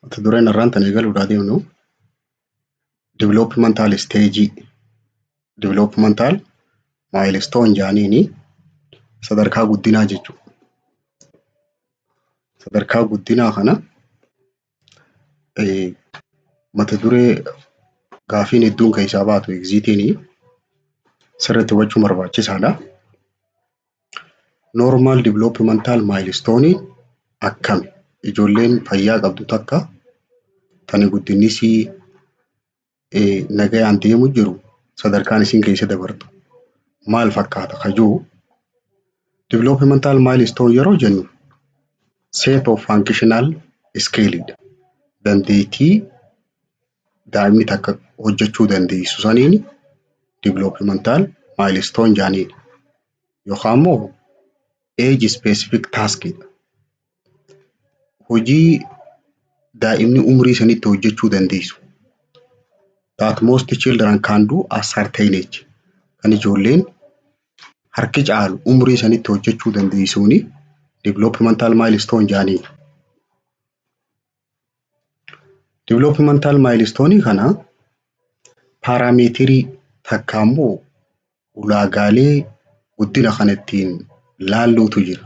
Mata duree narraan tan eegaluudhaa deemnu developmental stage developmental milestone jaaniini sadarkaa guddinaa jechuudha. Sadarkaa guddinaa kana eh, mata duree gaafiin hedduun keessaa baatu egziitiini sirriitti hubachuu barbaachisaadha. Normal developmental milestone akkami? Ijoolleen fayyaa qabdu takka tani guddinni isii nagayaan deemu jiru sadarkaan isiin keessa dabartu maal fakkaata ka jiru developmental milestone yeroo jennu set of functional scale dha. Dandeettii daa'imni takka hojjechuu dandeessu saniin developmental milestone jaaniin yookaan immoo age specific task hojii daa'imni umrii sanitti hojjechuu dandeessu that most children can do at certain age kan ijoolleen harki caalu umrii sanitti hojjechuu dandeessuuni developmental milestone jaaniin. Developmental milestone kana paaraameetirii takka immoo ulaagaalee guddina kana ittiin laalluutu jira.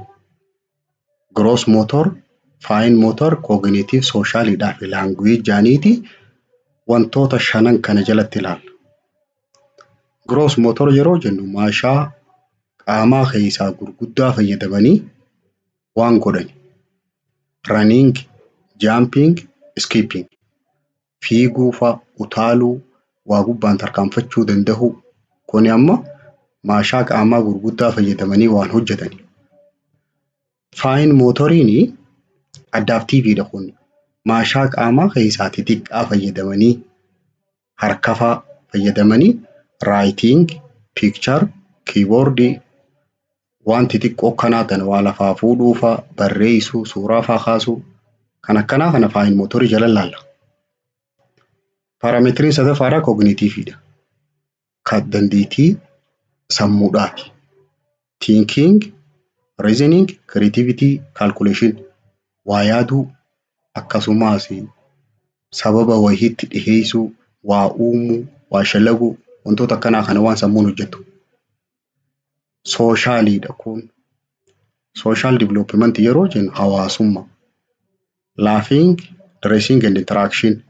Gross motor, fine motor, cognitive, social dhaa fi language jedhaniiti wantoota shanan kana jalatti ilaalla. Gross motor yeroo jennu maashaa qaamaa keessaa gurguddaa fayyadamanii waan godhan running jumping skipping fiiguu fa utaaluu waa gubbaan tarkaanfachuu dandahuu kuni amma maashaa qaamaa gurguddaa fayyadamanii waan hojjetan faayin mootoriin addaaf tiiviidha kun maashaa qaamaa keessaati xiqqaa fayyadamanii harkafaa fayyadamanii writing, picture, keyboard waan xixiqqoo akkanaa tan waa lafaa fuudhuu faa, barreessuu, suuraa faa kaasuu kan akkanaa kana fine motor jala laalla. Parametriin sadaffaadha cognitive dha. Kan dandeettii sammuudhaati. Thinking, reasoning, creativity, calculation waa yaaduu akkasumaas sababa wayii itti dhiheessuu, waa uumuu, waa shalaguu wantoota akkanaa kana waan sammuun hojjetu. Sooshaaliidha kun. Sooshaal diviloopimantii yeroo jennu hawaasummaa. Laughing, dressing and interaction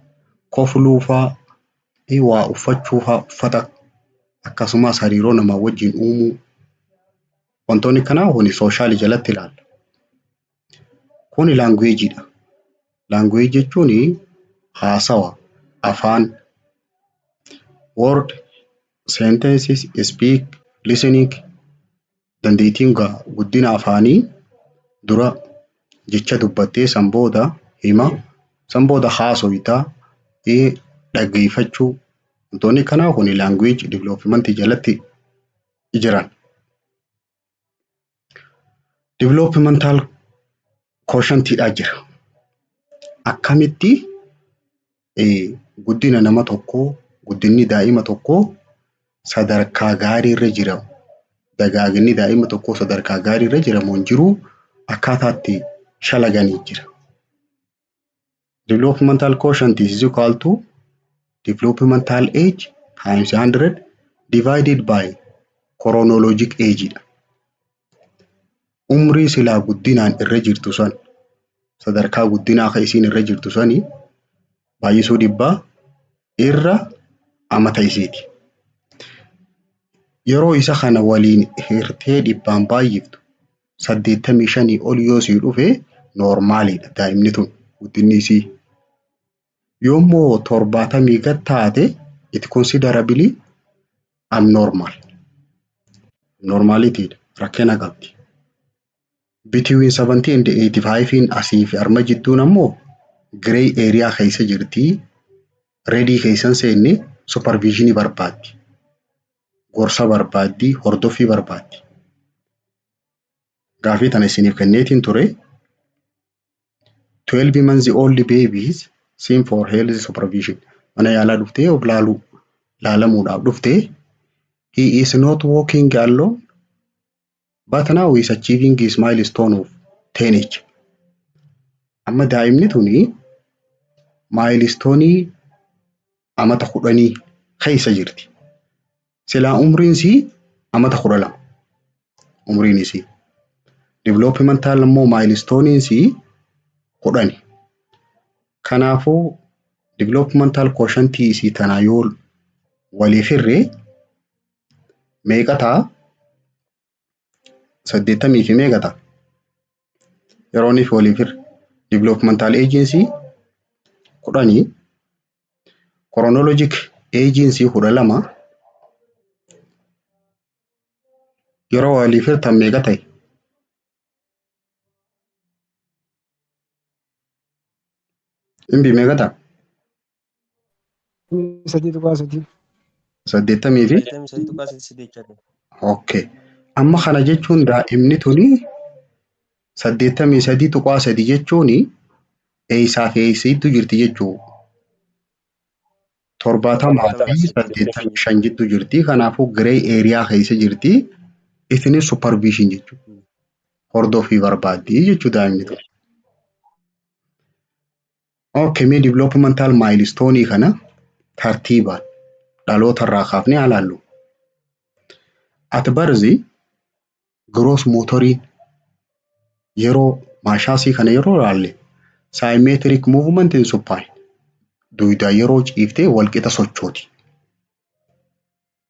kofluu faa, i waa uffachuu faa uffata akkasumas hariiroo namaa wajjin uumuu wantoonni kanaa huni sooshaali jalatti ilaalla. Kuni laanguweejiidha. Laanguweeji jechuun haasawa, afaan, word, sentences, speak, listening. Dandeettiin guddina afaanii dura jecha dubbattee san booda hima san booda haasofta dhaggeeffachuu wantoonni kanaa kun language development jalatti jiran. Developmental quotient dha jira. Akkamitti guddina nama tokkoo, guddinni daa'ima tokkoo sadarkaa gaariirra jira, dagaaginni daa'ima tokkoo sadarkaa gaariirra jira moo hin jiruu akkaataa itti shalaganii jira. Developmental quotient is equal to developmental age times 100 divided by chronologic age dha. umrii silaa guddinaan irra jirtu san sadarkaa guddinaa ka isiin irra jirtu sani baay'isuu dhibbaa irra amata isiiti. Yeroo isa kana waliin hirtee dhibbaan baay'iftu saddeettamii shanii ol yoo sii dhufe noormaaliidha daa'imni tun guddinni isii. Yoommoo torbaatamii gad taate it considerably abnormal. Abnormality dha. Rakkina qabdi. Between 70 and 85n asii fi arma jidduun ammoo grey area keessa jirti. Redii keessan seenne supervisionii barbaaddi. Gorsa barbaaddi, hordoffii barbaaddi. Gaafii tana isiniif kenneetiin ture. 12 months old babies seen for health supervision mana yaalaa dhuftee of laaluu laalamuudhaaf dhuftee he is not walking alone but now he is achieving his milestone of 10h amma daa'imni tuni maayilistoonii amata kudhanii keessa jirti. Silaa umriin isii amata kudha lama. Umriin isii. Developmental immoo maayilisitooniin isii kudhani. Kanaafuu developmental quotientii isii tanaa yoo waliif hirree meeqa ta'a? saddeettamii fi meeqa ta'a? Yeroo inni fi waliif hirre. Developmental agency kudhanii chronologic agency kudha lama yeroo waliif hirtan meeqa ta'e? Imbi meeqa ta'a? sadii tuqaa sadii. saddeettamii fi saddeettamii sadii tuqaa sadii sadii jechaa ta'e. okay. Amma kana jechuun daa'imni tuni saddeettamii sadii tuqaa sadii jechuun eeysaa fi eeysiitu jirti jechuu torbaatamaa fi saddeettamii shan jidduu jirti. Kanaafuu giree eeriyaa keessa jirti. Isinis supervision jechuudha. Hordofii barbaaddi jechuu daa'imni tuni. Okay, mee developmental milestone kana tartiibaan dhaloota irraa kaafnee haa laallu. At birth gross motoriin yeroo maashaasii kana yeroo laalle symmetric movement in supine duydaa yeroo ciiftee walqixa sochooti.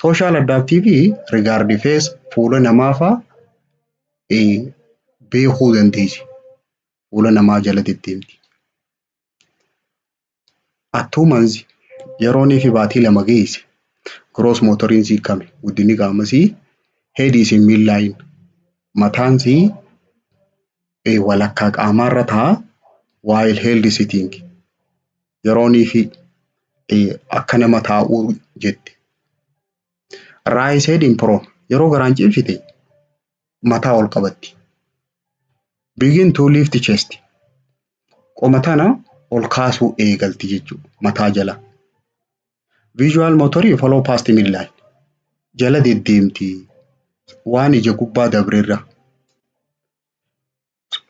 Sooshaal addaaptiivii rigaardi fees fuula namaa faa beekuu dandeessi. Fuula namaa jala deddeemti. Attuu manzi yeroo inni fi baatii lama geesse gross motoriin sii kame guddinni qaama sii heedii sii miillaayin mataan sii walakkaa qaamaarra ta'a waayil heeldi sitingi. yeroonii fi akka nama taa'uu jette. Raay said in pro yeroo garaan ciibsite mataa ol qabatti. Begin to lift chest qoma tana ol kaasuu eegalti jechuudha mataa jala. Visual motor follow past midline jala deddeemti waan ija gubbaa dabrerra.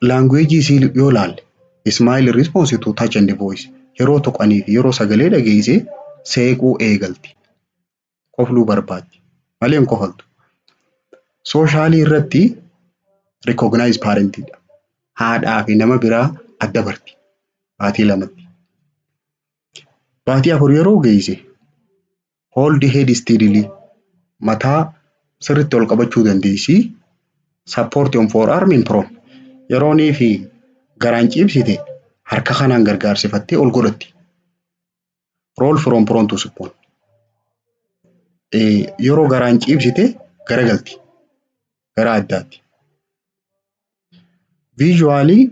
Laanguweejii isii yoo laalle smile response to touch and voice yeroo tuqanii fi yeroo sagalee dhageesse seequu eegalti. Kofluu barbaaddi. Malee hin kofaltu. Sooshaalii irratti recognize parent dha. Haadhaa fi nama biraa adda barti. Baatii lamatti. Baatii afur yeroo geesse Hold the head steadily. Mataa sirriitti ol qabachuu dandeessi. Support on forearm in prone. Yeroo nii fi garaan ciibsite harka kanaan gargaarsifattee ol godhatti. Roll from prone to supine. Yeroo garaan ciibsite garagalti. gara addaatti. Visually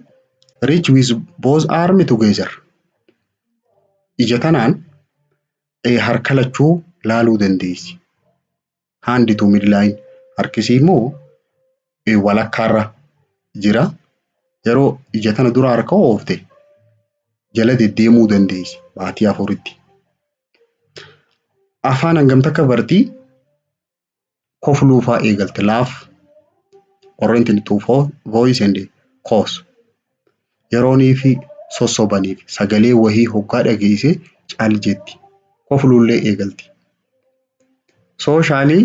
reach with both arm together. Ija tanaan eh, harka lachuu laaluu dandeessi. Hand to midline. Harkisii immoo eh, walakkaarra jira. Yeroo ija tana dura harka oofte jala deddeemuu dandeessi baatii afuritti. Afaan hangam takka bartii? kofluufaa eegalte laaf oriented to fo- voice and cause yeroonii fi sossobaniif sagalee wahii hoggaa dhageesse cal jetti kofluullee eegalti sooshaanii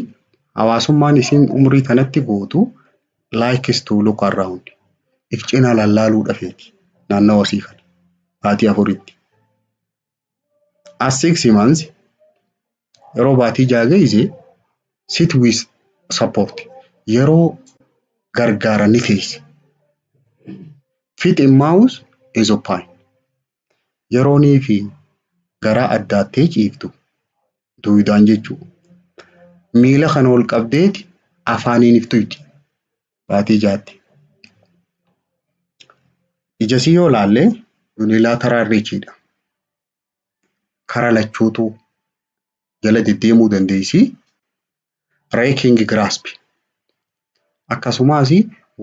hawaasummaan isiin umrii tanatti gootu likes to look around if cina lallaaluu dhafeeti naannawa isii kana baatii afuritti as six months yeroo baatii ja'a geesse sit with support yeroo gargaara ni teessi. Fit in mouse is open yeroo nii fi garaa addaattee ciiftu duwidaan jechuudha. Miila kana ol qabdeeti afaaniin iftu itti. baatii jaatti. Ijasii yoo ilaalle yuunilaataraal riichiidha. Kara lachuutu jala deddeemuu dandeessi. Reekingi giraaspi. Akkasumas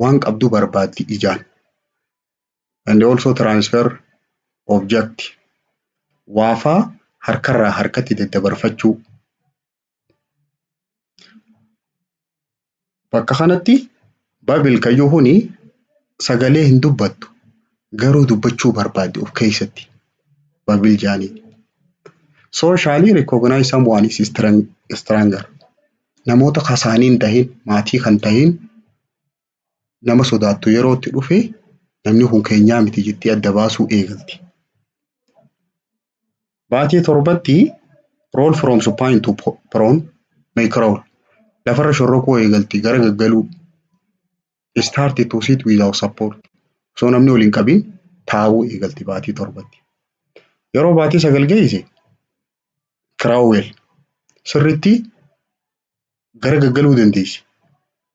waan qabdu barbaaddi ijaan. And also transfer object. Waafaa harkarraa harkatti daddabarfachuu. Bakka kanatti Babil kan jiru kuni sagalee hin dubbattu garuu dubbachuu barbaaddi of keessatti Babil jaaniin. Socially recognize someone is strong- stronger. Namoota kasaanii hin tahin maatii kan tahin nama sodaattu yeroo itti dhufe namni kun keenyaa miti jettee adda baasuu eegalti. Baatii torbatti roll from supine to po- prone may crawl lafarra shorrokuu eegalti gara gaggaluu start to sit without support osoo namni ol hin qabin taa'uu eegalti baatii torbatti. Yeroo baatii sagal geesse crawl sirritti gara gaggaluu dandeessi.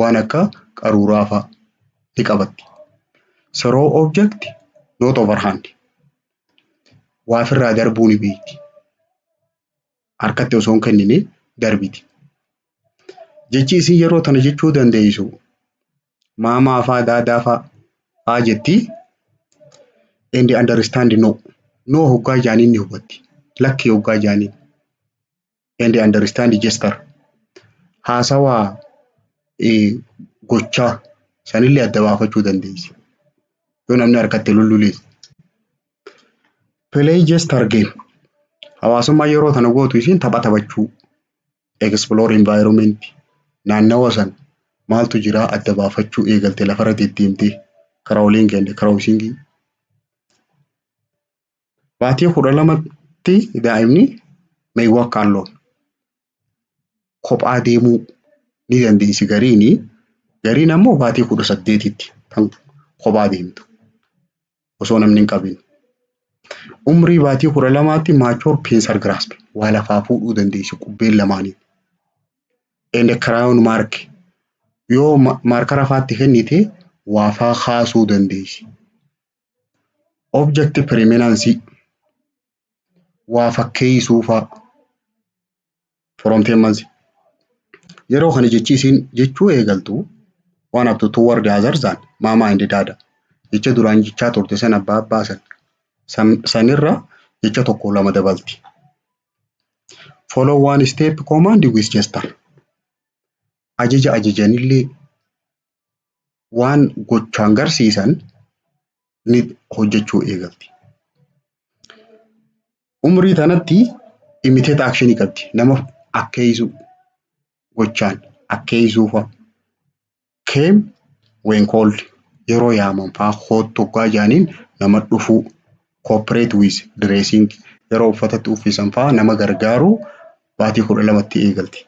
waan akka qaruuraa fa'a ni qabatti. So raw object not over hand. Waa ofirraa darbuu ni beekti. Harkatti osoo hin kennine darbiti. Jechi isin yeroo tana jechuu dandeessu maamaa faa daadaa faa faa jetti and understand no. No hoggaa jaaniin ni hubatti. Lakki hoggaa jaaniin. and understand gesture haasawaa gochaa sanillee adda baafachuu dandeessi. Yoo namni harkatti lullulees. Play gesture game hawaasummaa yeroo tana gootu isiin tapha taphachuu explore environment naannawa san maaltu jira adda baafachuu eegalte lafarra deddeemtee crowling and crossing Baatii kudha lamatti daa'imni meewwaa kaalloon kophaa deemuu ni dandeessi gariini. Gariin ammoo baatii kudha saddeetitti kan kophaa deemtu osoo namni hin qabin. Umrii baatii kudha lamaatti mature pincer grasp waa lafaa fuudhuu dandeessi qubbeen lamaaniin. And crown mark yoo ma- maarkara faatti kennite waa faa kaasuu dandeessi. Object preeminence waa fakkeessuu faa. From tendency. Yeroo kana jechi isiin jechuu eegaltu waan haftu toward other than mama and dada. Jecha duraan jechaa turte san abbaa abbaa san. San sanirra jecha tokko lama dabalti. Follow one step command with gesture. Ajaja ajajanillee waan gochaan garsiisan ni hojjechuu eegalti. Umrii tanatti imiteet akshinii qabdi. Nama akkeeysuu gochaan akkeeysuu fa'a. Keem ween kooldi yeroo yaaman fa'a koottu oggaa jaaniin nama dhufuu. Koopireet wiiz direesiing yeroo uffatatti uffisan fa'a nama gargaaruu baatii kudha lamatti eegalti.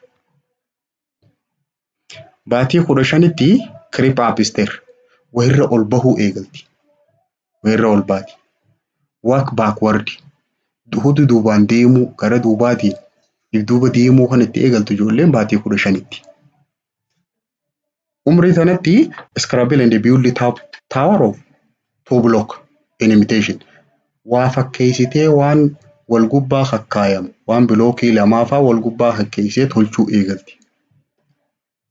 Baatii kudha shanitti kirip aapister wayirra ol bahuu eegalti. Wayirra ol baati. Waak baakwardi hudu duubaan deemuu gara duubaatiin dudduuba deemuu kan itti eegaltu ijoolleen baatii kudha shanitti. Umrii tanatti Scrabble and Build Top Tower of Two Block in Imitation waa fakkeessitee waan wal gubbaa kakkaayamu waan bilookii lamaafaa wal gubbaa kakkeessee tolchuu eegalti.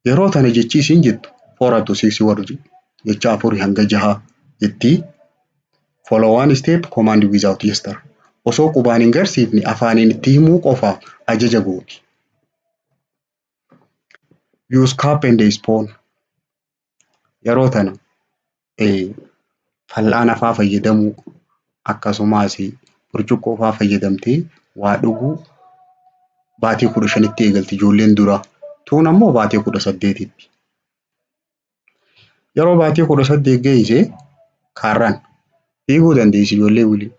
Yeroo tana jechi isiin jettu four up to six word jecha afurii hanga jahaa jetti. Follow one step command without gesture. Osoo qubaan hin garsiifne afaaniin itti himuu qofa ajaja gooti. Use cap and spoon. Yeroo tana eh, fal'aana faa fayyadamuu akkasumas burcuqqoo faa fayyadamtee waa dhuguu baatii kudha shanitti eegalti ijoolleen duraa. Tuun ammoo baatii kudha saddeetitti. Yeroo baatii kudha saddeet geeyse kaarraan fiiguu dandeessi ijoollee waliin.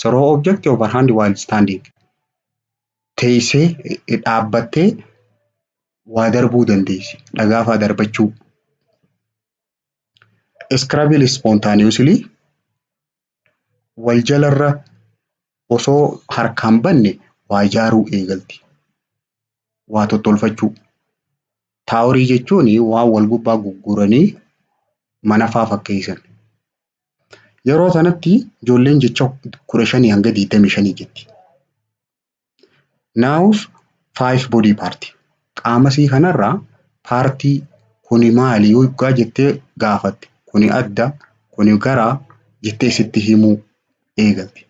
Soroo object overhand while standing. teessee, dhaabbattee waa darbuu dandeessi. Dhagaa faa darbachuu. Scrabble spontaneously wal jalarra osoo harkaan banne waa ijaaruu eegalti. Waa tottolfachuu. Taaworii jechuun waan wal gubbaa gugguranii mana faa fakkeessan. Yeroo sanatti ijoolleen jecha kudha shanii hanga digdamii shanii jetti. Nouns five body part. Qaama isii kanarraa paartii kuni maali yoo dhugaa jettee gaafatte kuni adda kuni garaa jettee sitti himuu eegalte.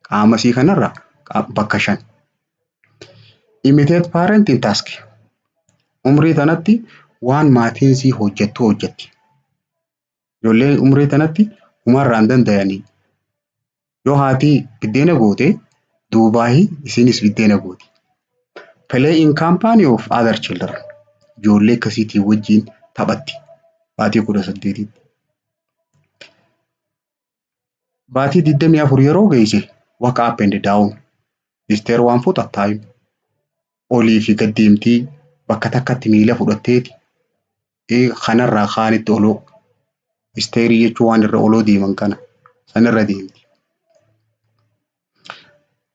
Qaama isii kanarraa qa- bakka shan. Imitate parent in task. Umrii tanatti waan maatiin isii hojjettu hojjetti. Ijoollee umrii tanatti humarraa hin dandayanii. Yoo haati biddeena goote duubaahi isiinis biddeena gooti. Play in company of other children. Ijoollee akkasiitii wajjin taphatti. Baatii kudha saddeetitti. Baatii 24 yeroo geeyse waka up and down isteer waan fuuta time olii fi gad deemtii bakka takkatti miila fudhatteeti ee, kanarraa kaanitti oloo isteerii jechuun waan irra oloo deeman kana sanirra deemti.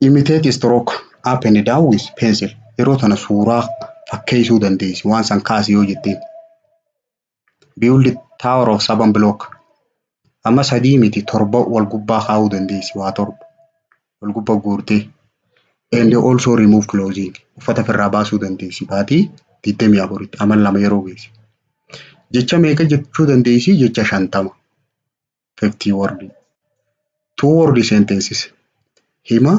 Imitate stroke up and down with pencil yeroo tana suuraa fakkeessuu dandeessi waan san kaasi yoo jetteen. build tower of seven block amma sadii miti torba wal gubbaa kaa'uu dandeessi waa torba wal gubba guurtee and also remove clothing uffata ofirraa baasuu dandeessi baatii digdamii afuritti amal lama yeroo geessi jecha meeqa jechuu dandeessi jecha shantama fiftii wordi two wordi sentences hima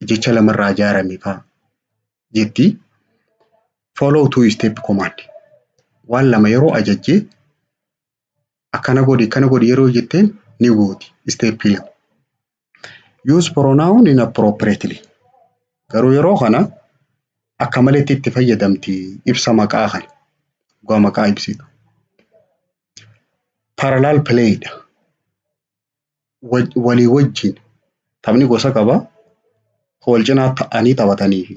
jecha lamarraa ijaarame fa'a jetti. Follow two step command. Waan lama yeroo ajajje akkana godhi akkana godhi yeroo jetteen ni gooti step lama. Use pronoun inappropriately. Garuu yeroo kana akka maletti itti fayyadamti ibsa maqaa kana. Dhugaa maqaa ibsitu. Parallel play dha. waj- walii wajjin taphni gosa qaba. Kan wal cinaa ta'anii taphatanii fi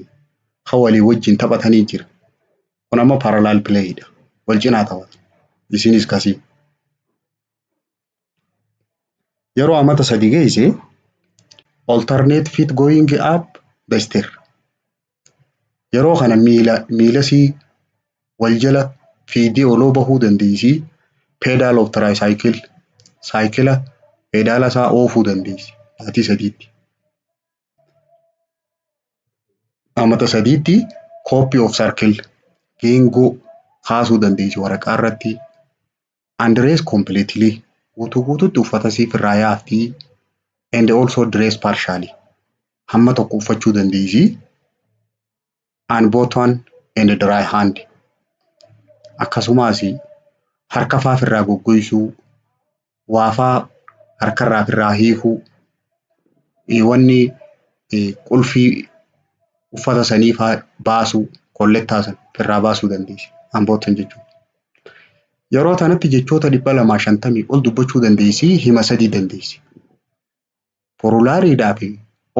kan walii wajjin taphatanii jira. Kun amma parallel play dha. Wal cinaa taphatu. Isinis kasii. Yeroo amata sadi geesse alternate fit going up the stair. Yeroo kana miila miilasii wal jala fiidee oloo bahuu dandeessi. Peedaal of tiraayisaayikil saayikila peedaala isaa oofuu dandeessi. Maatii sadiitti. Amata sadiitti kooppii of sarkil geengoo kaasuu dandeessi waraqaa irratti. Undress completely, guutuu guutuutti uffata siif irraa yaafti, and also dress partially, hamma tokko uffachuu dandeessi, unbuttoned and dry hand, akkasumaas harka faa firraa goggoysuu, waa faa harkarraa firraa hiikuu, wanni qulfii uffata sanii faa baasuu, kollettaa san firraa baasuu dandeessi, unbuttoned jechuun. Yeroo tanatti jechoota dhibba lamaa shantamii ol dubbachuu dandeessi, hima sadii dandeessi. Forulaariidhaa fi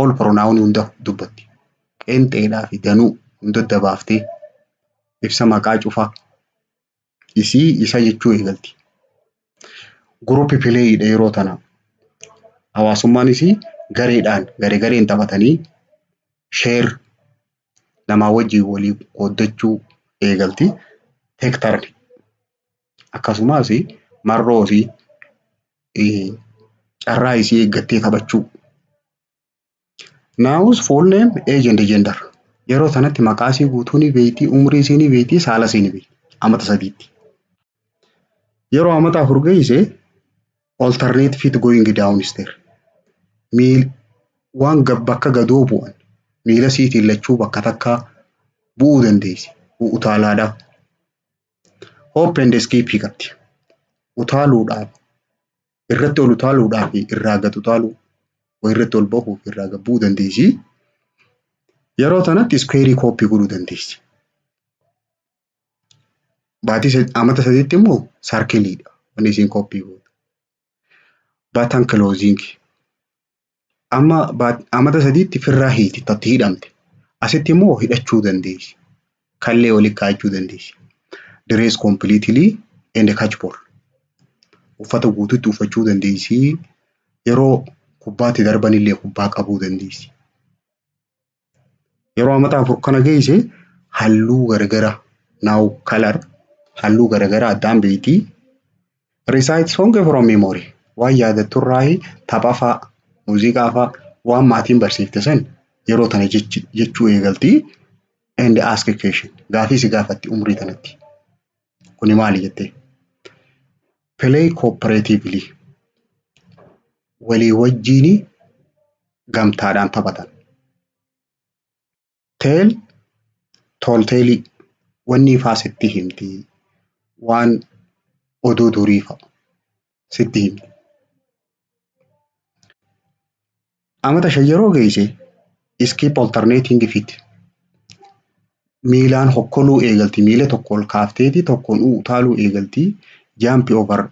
ol pronaawunii hunda dubbatti. Qeenxeedhaa fi danuu hunda adda baaftee ibsa maqaa cufaa isii isa jechuu eegalti. Guruupi pileeyiidha yeroo tana. Hawaasummaan isii gareedhaan garee gareen taphatanii sheer namaa wajjin waliin qooddachuu eegalti. Hektarri akkasumas marroo fi carraa isii eeggattee taphachuu. Nouns, full name, age and gender. Yeroo sanatti maqaa isii guutuu ni beekti, umrii isii ni beekti, saala isii ni beekti. Amata sadiitti. Yeroo amata afur geesse alternate fit going down stair miil waan gab bakka gadoo bu'an miila siitiin lachuu bakka takkaa bu'uu dandeessi utaalaadhaa hoop and skiipii qabdi utaaluudhaaf irratti ol utaaluudhaa fi irraa gad utaaluu way irratti ol bahuu fi irraa gad bu'uu dandeessi yeroo tanatti iskuweerii kooppii godhuu dandeessi Baatii sad- amata sadiitti immoo sarkiliidha. Wanni isiin koppii gootu. Batan closing. Amma baat- amata sadiitti firraa hiiti tatti hidhamte. Asitti immoo hidhachuu dandeessi. Kallee waliin kaa'achuu dandeessi. Dress completely and catch ball. Uffata guutuutti uffachuu dandeessi. Yeroo kubbaatti darbanillee kubbaa qabuu dandeessi. Yeroo amata afur kana geesse halluu garagara now color halluu garagara addaan beekti. Recite song from memory waan yaadattu irraa tapha faa muuziqaa faa waan maatiin barsiifte san yeroo tana jechuu eegalti. And ask question gaafii si gaafatti umrii tanatti. Kuni maali jettee? Play cooperatively. Walii wajjiin gamtaadhaan taphatan. Tell tall tale wanni ifaa sitti himti. Waan oduu durii fa'a. sitti hime. Amata shan yeroo geesse iskiip oltarneetiin difiitti. Miilaan hokkoluu eegalti. Miila tokko ol kaafteeti tokkoon utaaluu eegalti. Jaampi over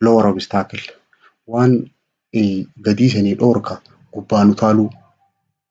lower obstacle. Waan gadii sanii dhoorka gubbaan utaaluu.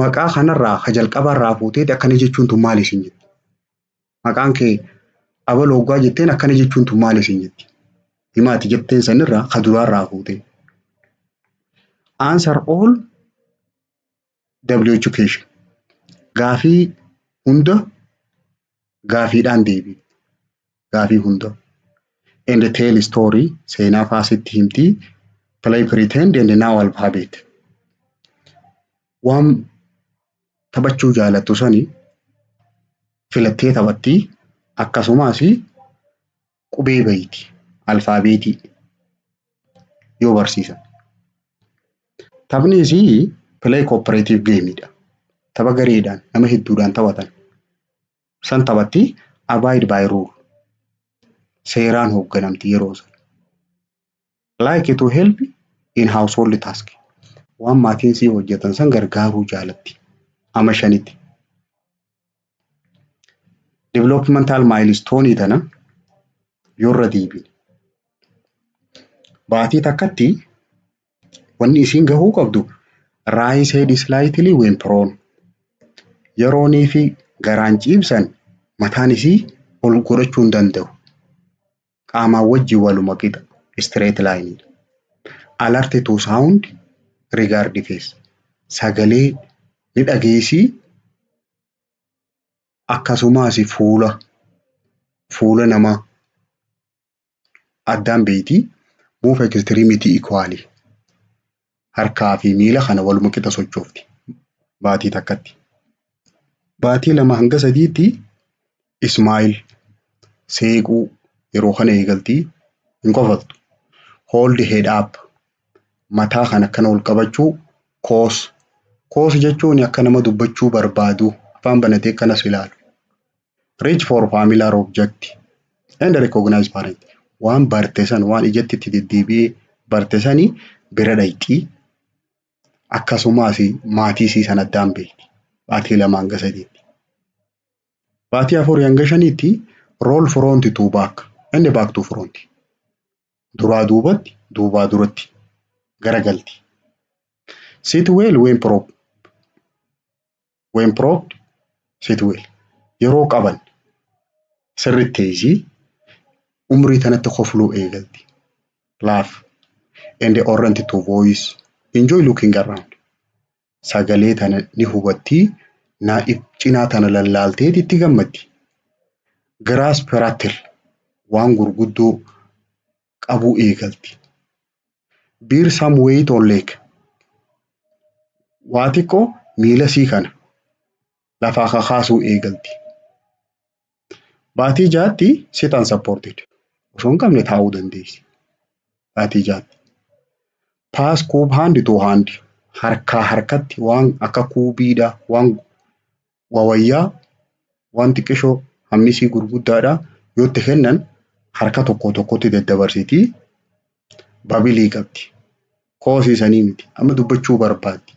Maqaa kanarraa ka jalqabaarraa fuuteeti akkana jechuun tun maali isin jetti. Maqaan kee abal hoggaa jetteen akkana jechuun tun maali isin jetti. Himaati jetteen sanirraa ka duraarraa fuutee. Answer all W Education. Gaafii hunda gaafiidhaan deebii. Gaafii hunda. And tell story seenaa faa sitti himti. Play pretend and now alphabet. Waan taphachuu jaalattu sani filattee taphattii akkasumas qubee bayti, alfaabeetii, yoo barsiisan. Taphni isii play cooperative game dha. Tapha gareedhaan nama hedduudhaan taphatan. San taphatti abide by rule. Seeraan hoogganamti yeroo san. Like to help in household task. Waan maatiin sii hojjetan san gargaaruu jaalatti. Ama shanitti. Developmental milestone tana yorra deebine. Baatii takkatti wanni isiin gahuu qabdu raayis head slightly when prone. Yeroonii fi garaan ciibsan mataan isii ol godhachuu hin danda'u. qaamaa wajjin waluma qixa, straight line, dha. Alert to sound regard face, sagalee ni dhageessi akkasumas fuula fuula namaa addaan beekti. Move extremity equally, harkaa fi miila kana waluma qixa sochoofti baatii takkatti. Baatii lama hanga sadiitti ismaayil seequu yeroo kana eegaltii hin kofaltu. Hold head up mataa kan akkana ol qabachuu koos koos jechuun akka nama dubbachuu barbaadu afaan banatee akkanas ilaalu. Reach for familiar object and recognize parent. Waan barte san waan ijatti itti deddeebi'ee barte sani bira dhayxi. Akkasumas maatii isii san addaan beekti. Baatii lama hanga sadiitti. Baatii afurii hanga shaniitti roll front to back and back to front. Duraa duubatti duubaa duratti garagalti. Sit well when prop when propped sit well yeroo qaban sirritti teeysii umrii tanatti kofluu eegalti laugh and orrent to voice enjoy looking around sagalee tana ni hubattii naa cinaa tana lallaalteeti itti gammaddi grasp rattle waan gurguddoo qabuu eegalti. Bear some weight or leg. Waa xiqqoo miila isii kana lafaa kakaasuu eegalti. Baatii jaatti sit unsupported. Osoo hin qabne taa'uu dandeessi. Baatii jaatti. Pass cube hand to hand. Harkaa harkatti waan akka kuubiidha waan waa wayyaa waan xiqqishoo hammi isii gurguddaadha yoo itti kennan harka tokko tokkotti daddabarsiti babilii qabdi koosii sanii miti amma dubbachuu barbaaddi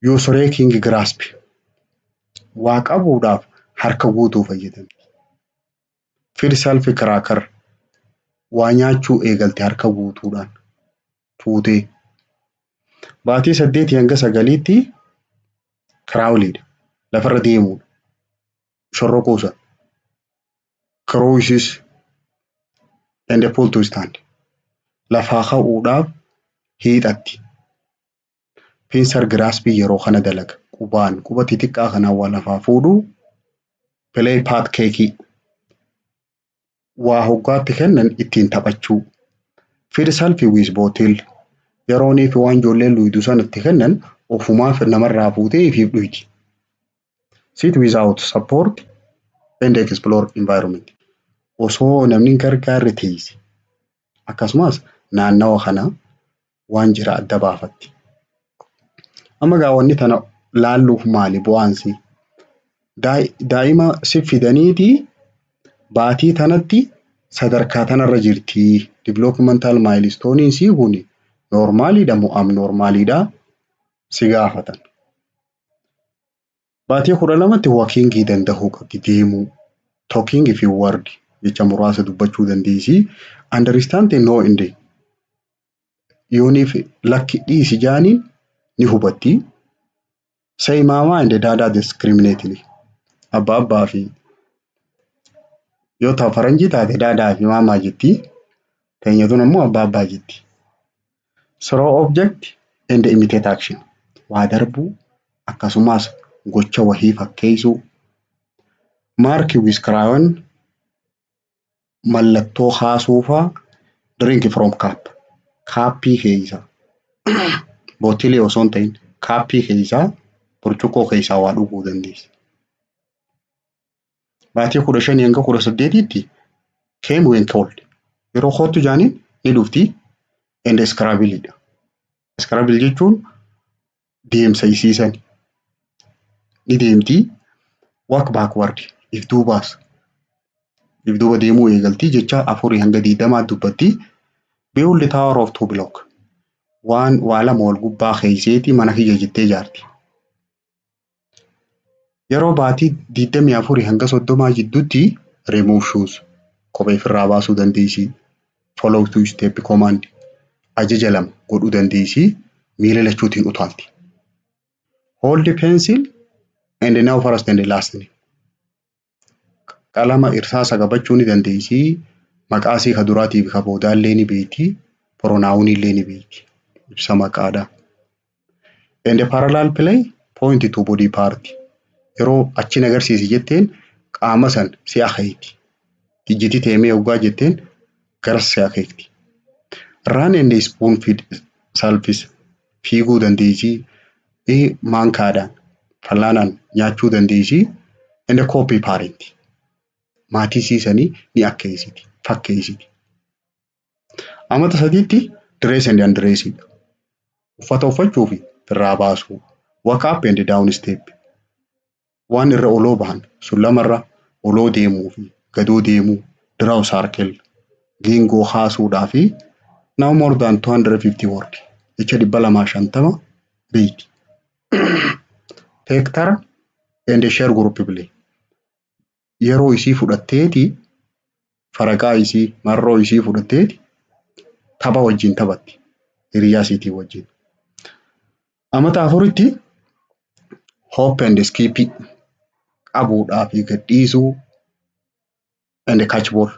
yoo soree kingi giraaspi waa qabuudhaaf harka guutuu fayyadamti Fir Salfi Kiraakar waa nyaachuu eegalte harka guutuudhaan fuutee. Baatii saddeetii hanga sagaliitti kiraawuliidha. Lafarra deemuudha. Shorrokoo san. Kirooyisis and pull to stand. Lafaa ka'uudhaaf hiixatti. Pincer grasp yeroo kana dalaga. Qubaan quba xixiqqaa kana waa lafaa fuudhu. Play paat keekii. Waa hoggaatti kennan ittiin taphachuu. Feed self with bottle. Yeroonii fi waan ijoolleen dhuydu san itti kennan ofumaaf namarraa fuutee ifiif dhuydi. Sit without support and explore environment. Osoo namni hin gargaarre teeyse. Akkasumaas naannawa kana waan jira adda baafatti. Amma gaa wanni tana laalluuf maali bu'aansi? Daa'ima si fidaniiti baatii tanatti sadarkaa tanarra jirti. Developmental milestone isii kun noormaaliidha moo abnoormaaliidha si gaafatan. Baatii 12tti wakiingii dandahuu qabdi, deemuu, talking fi word jecha muraasa dubbachuu dandeessi. Understand and know inde yooniif lakki dhiisi jaaniin ni hubatti. Say mama and dada discriminately abba abbaa fi yoo ta faranjii taate daadaa fi maamaa jetti. Teenyatuun ammoo abbaa abbaa jetti. Throw object and imitate action. Waa darbuu akkasumaas gocha wahii fakkeeysuu. Mark with crayon mallattoo kaasuu faa Drink from cup. Kaappii keeysa bottle osoo hin tahin kaappii keeysaa burcuqqoo keeysaa waa dhuguu dandeeysa. Baatii kudha shanii hanga kudha saddeetiitti came when cold. Yeroo koottu jaaniin ni dhufti and scrabble dha. Scrabble jechuun deemsa isiisan ni deemti walk backward if duubaas if duuba deemuu eegalti jecha afurii hanga digdamaa dubbatti build the tower of two block waan waa lama wal gubbaa keeyseeti mana kiyya jettee jaarti. Yeroo baatii 24-30 jidduutti remove shoes kophee ofirraa baasuu dandeessi. Follow two step command ajaja lama godhuu dandeessi. Miila lachuutiin utaalti. Hold pencil and now first and last. Qalama irsaasa qabachuu ni dandeessi. Maqaa isii ka duraatii fi ka boodaallee ni beekti. Pronounillee ni beekti. Ibsa maqaadha. And a parallel play point to body part. Yeroo achiin agarsiisi jetteen qaama san si akeekti. Ijjiti teemee oggaa jetteen garas si akeekti. Run and spoon feed selfies. fiiguu dandeessi, eh, maankaadhaan, fallaanaan nyaachuu dandeessi, and a copy parent. Maatii isii sanii ni akkeessiti, fakkeessiti. Amata sadiitti dress and undress dha. Uffata uffachuu fi firraa baasuu, walk up and down step. Waan irra oloo bahan sun lama irra oloo deemuu fi gadoo deemuu, draw circle, geengoo kaasuu dhaa fi now more than 250 word, jecha 250, beeyti. Take turn and share group play. yeroo isii fudhatteeti faraqaa isii marroo isii fudhatteeti tapha wajjin taphatti hiriyaa isiitii wajjin. Amata afuritti hope and skip qabuudhaa fi gadhiisuu and catch ball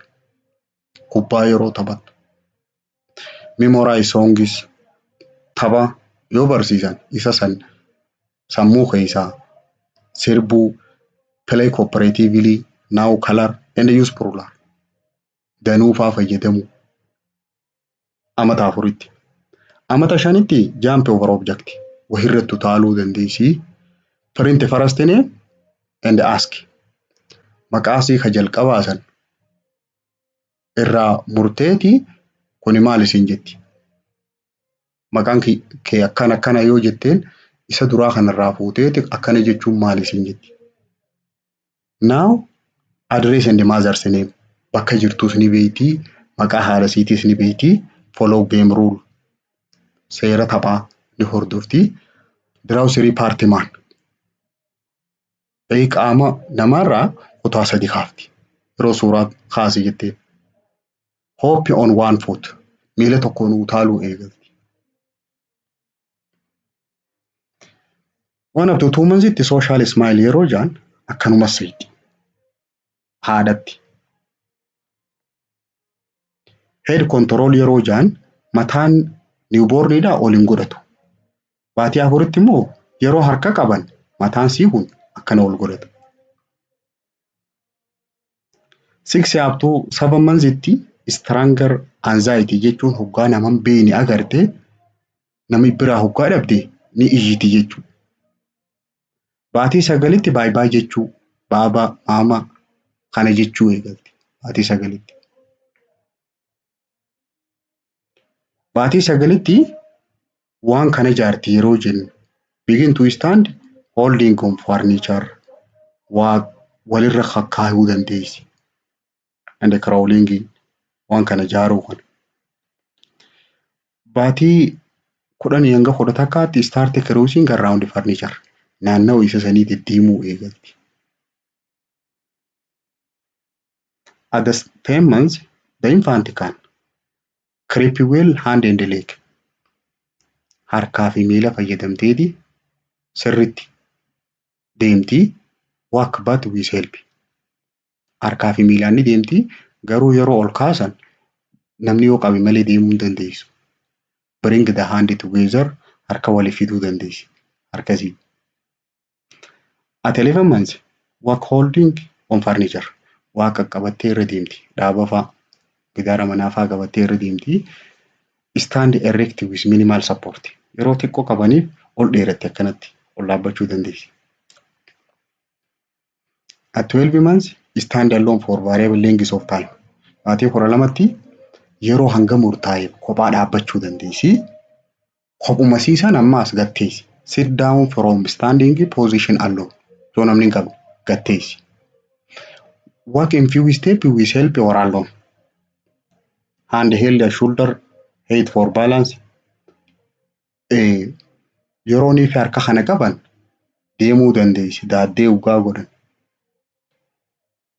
kubbaa yeroo taphattu memorize songs tapha yoo barsiisan isa san sammuu keessaa sirbuu play cooperatively now color and use plural danuu faa fayyadamu amata afuritti amata shanitti jump over object wahirratti utaaluu dandeessii print first name and ask maqaasii ka jalqabaa san irraa murteeti kuni maal isin jetti maqaan kee akkana akkana yoo jetteen isa duraa kanarraa fuuteeti akkana jechuun maal isin jetti now address and mother's name bakka jirtuus ni beeyti maqaa haadha isiitiis ni beeyti follow game rule seera taphaa ni hordofti diraawusirii paartimaan Ee qaama namaarraa kutaa sadi kaafti. Yeroo suuraa kaasi jettee. Hope on one foot. Miila tokkoon utaaluu eegalti. Waan abduu tuumansitti sooshaal ismaayil yeroo jaan akkanuma seeti. Haadhatti. Head control yeroo jaan mataan niwuboorniidhaa ol hin godhatu. Baatii afuritti immoo yeroo harka qaban mataan sii kun akkana ol godhata. Six up to seven months itti stronger anxiety jechuun hoggaa naman beeyne agarte nami biraa hoggaa dhabde ni iyyiti jechuudha. Baatii sagalitti baay baay jechuu baaba maama kana jechuu eegalte. Baatii sagalitti. Baatii sagalitti waan kana ijaarti yeroo jennu begin to stand holding on furniture waa walirra kakkaayuu dandeessi. and crawling waan kana ijaaruu kana. Baatii kudhanii hanga kudha takkaatti start cruising around furniture naannawa isa sanii deddeemuu eegalti. At the same month, the infant can creep well hand and leg. Harkaa fi miila fayyadamteeti sirritti deemti walk but with help. harkaa fi miilaan ni deemti. Garuu yeroo ol kaasan namni yoo qabe malee deemuu hin dandeessu. Bring the hand together harka waliif fiduu dandeessi. Harka isii. At 11 months work holding on furniture waa qaqqabattee irra deemti. Dhaaba faa gidaara manaa faa qabattee irra deemti. Stand erect with minimal support yeroo xiqqoo qabaniif ol dheeratti akkanatti ol dhaabbachuu dandeessi. At 12 months stand alone for variable length of time. Baatii kudha lamatti yeroo hanga murtaa'e kophaa dhaabbachuu dandeessi. Kophuma siisan amma as gatteessi. Sit down from standing position alone. Yoo namni hin qabne gatteessi. Walk in few step with help or alone. Hand held a shoulder height for balance. yeroo inni fi harka kana qaban deemuu dandeessi daaddee dhugaa godhan.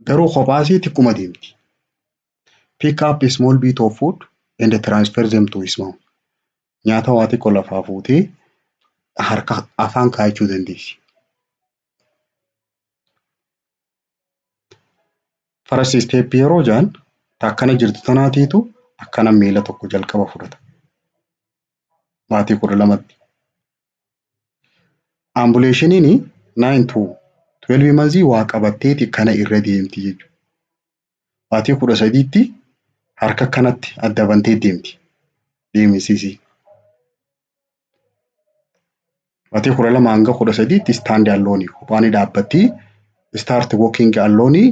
Garuu kophaasii xiqquma deemti. Pick up a small bit of food and transfer them to his mouth. Nyaata waa xiqqoo lafaa fuutee harka afaan kaa'achuu dandeessi. First step yeroo jaan akkana jirtu tanaatiitu akkana miila tokko jalqaba fudhata. baatii kudha lamatti. Ambuleeshiniin nine to twelve months waa qabatteeti kana irra deemti jechuudha. Baatii kudha sadiitti harka kanatti adda bantee deemti. Deemisiisii. Baatii kudha lama hanga kudha sadiitti istaandi alloonii kophaa ni dhaabbatti. Istaarti wookiingi alloonii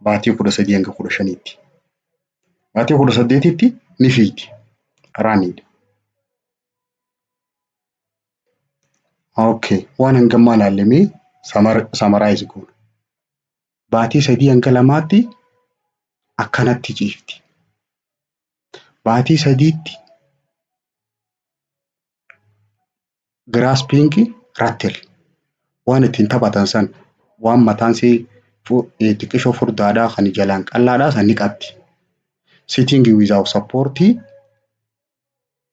baatii kudha sadii hanga kudha shaniitti. Baatii kudha saddeetitti ni fiigdi. Raaniidha. Okay. Waan hangammaa ilaallemee samaraayizi goona. Baatii sadii hanga lamaatti akkanatti ciifti. Baatii sadiitti Giraaspiingi rattil waan ittiin taphatan san waan mataan isii fu- eh, xiqqishoo furdaadhaa kan jalaan qal'aadhaa san ni qabdi. Sitting without support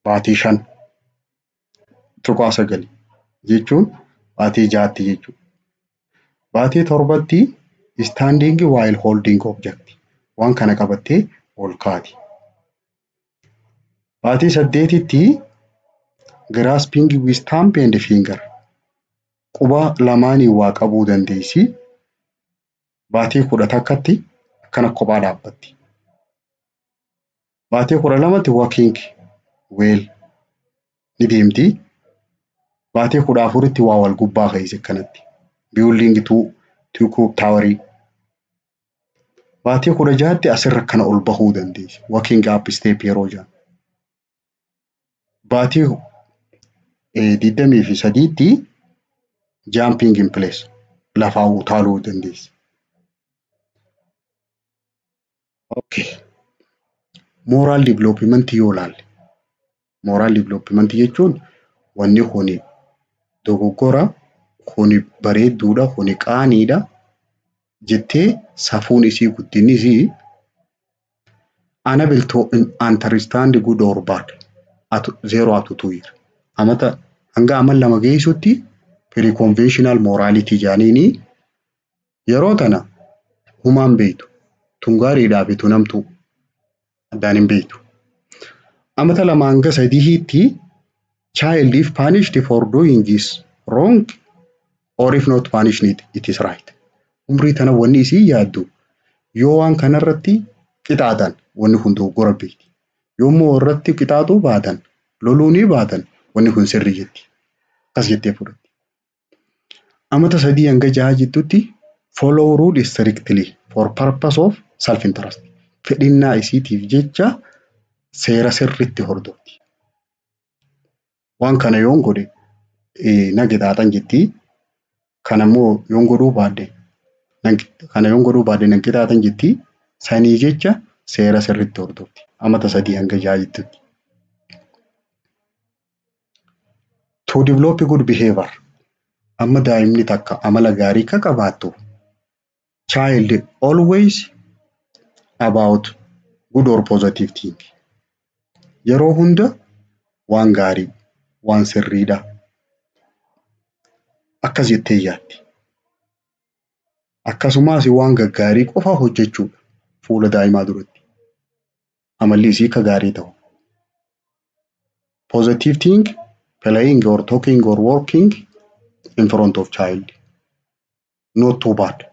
baatii shan tuqaa sagali jechuun baatii jaatti jechuudha. Baatii torbatti standing while holding object waan kana qabattee ol kaati. Baatii saddeetitti grasping with thumb and finger quba lamaaniin waa qabuu dandeessi. Baatii kudha takkatti akkana kophaa dhaabbatti. Baatii kudha lamatti walking well ni deemti. Baatii kudha afuritti waa wal gubbaa keessa akkanatti. Building two two cook towerii. Baatii kudha ja'atti asirra kana ol bahuu dandeessi. Working up step yeroo jedhamu. Baatii eh, digdamii fi sadiitti jumping in place lafaa utaaluu dandeessi. Okay. Moral development yoo laalle Moral development jechuun wanni kuni dogoggora, kuni bareedduudha, kuni qaaniidha jettee safuun isii guddinni isii unable to understand good or bad at zero up to two year. Amata hanga aman lama geessutti pre-conventional morality jaaniini Yeroo tana humaa hin beeytu. Tun gaariidhaafi tun hamtuu addaan hin beeytu. Amata 2-3tti child if punished for doing is wrong or if not punished it is right. Umrii tana wanni isiin yaaddu yoo waan kanarratti qixaaxan wanni kun dogoggora beeyti. Yoo immoo irratti qixaaxuu baatan loluu ni baatan wanni kun sirrii jetti. Akkas jettee fudhatti. Amata 3-6 jidduutti follow rule strictly for purpose of self interest. Fedhinnaa isiitiif jecha seera sirriitti hordofti. Waan kana yoon godhe na qixaaxan jetti. Kana immoo yoon godhuu baadde kana yoon godhuu baadde na qixaaxan jetti. Sanii jecha seera sirriitti hordofti. Amata 3-6 jidduutti. To develop good behavior amma daa'imni takka amala gaarii akka qabaattu child always about good or positive thing yeroo hunda waan gaarii waan sirriidha akkas jettee yaaddi. Akkasumas waan gaggaarii qofa hojjechuudha fuula daa'imaa duratti. amalli isii ka gaarii ta'u. Positive think, playing or talking or working in front of child. Not too bad.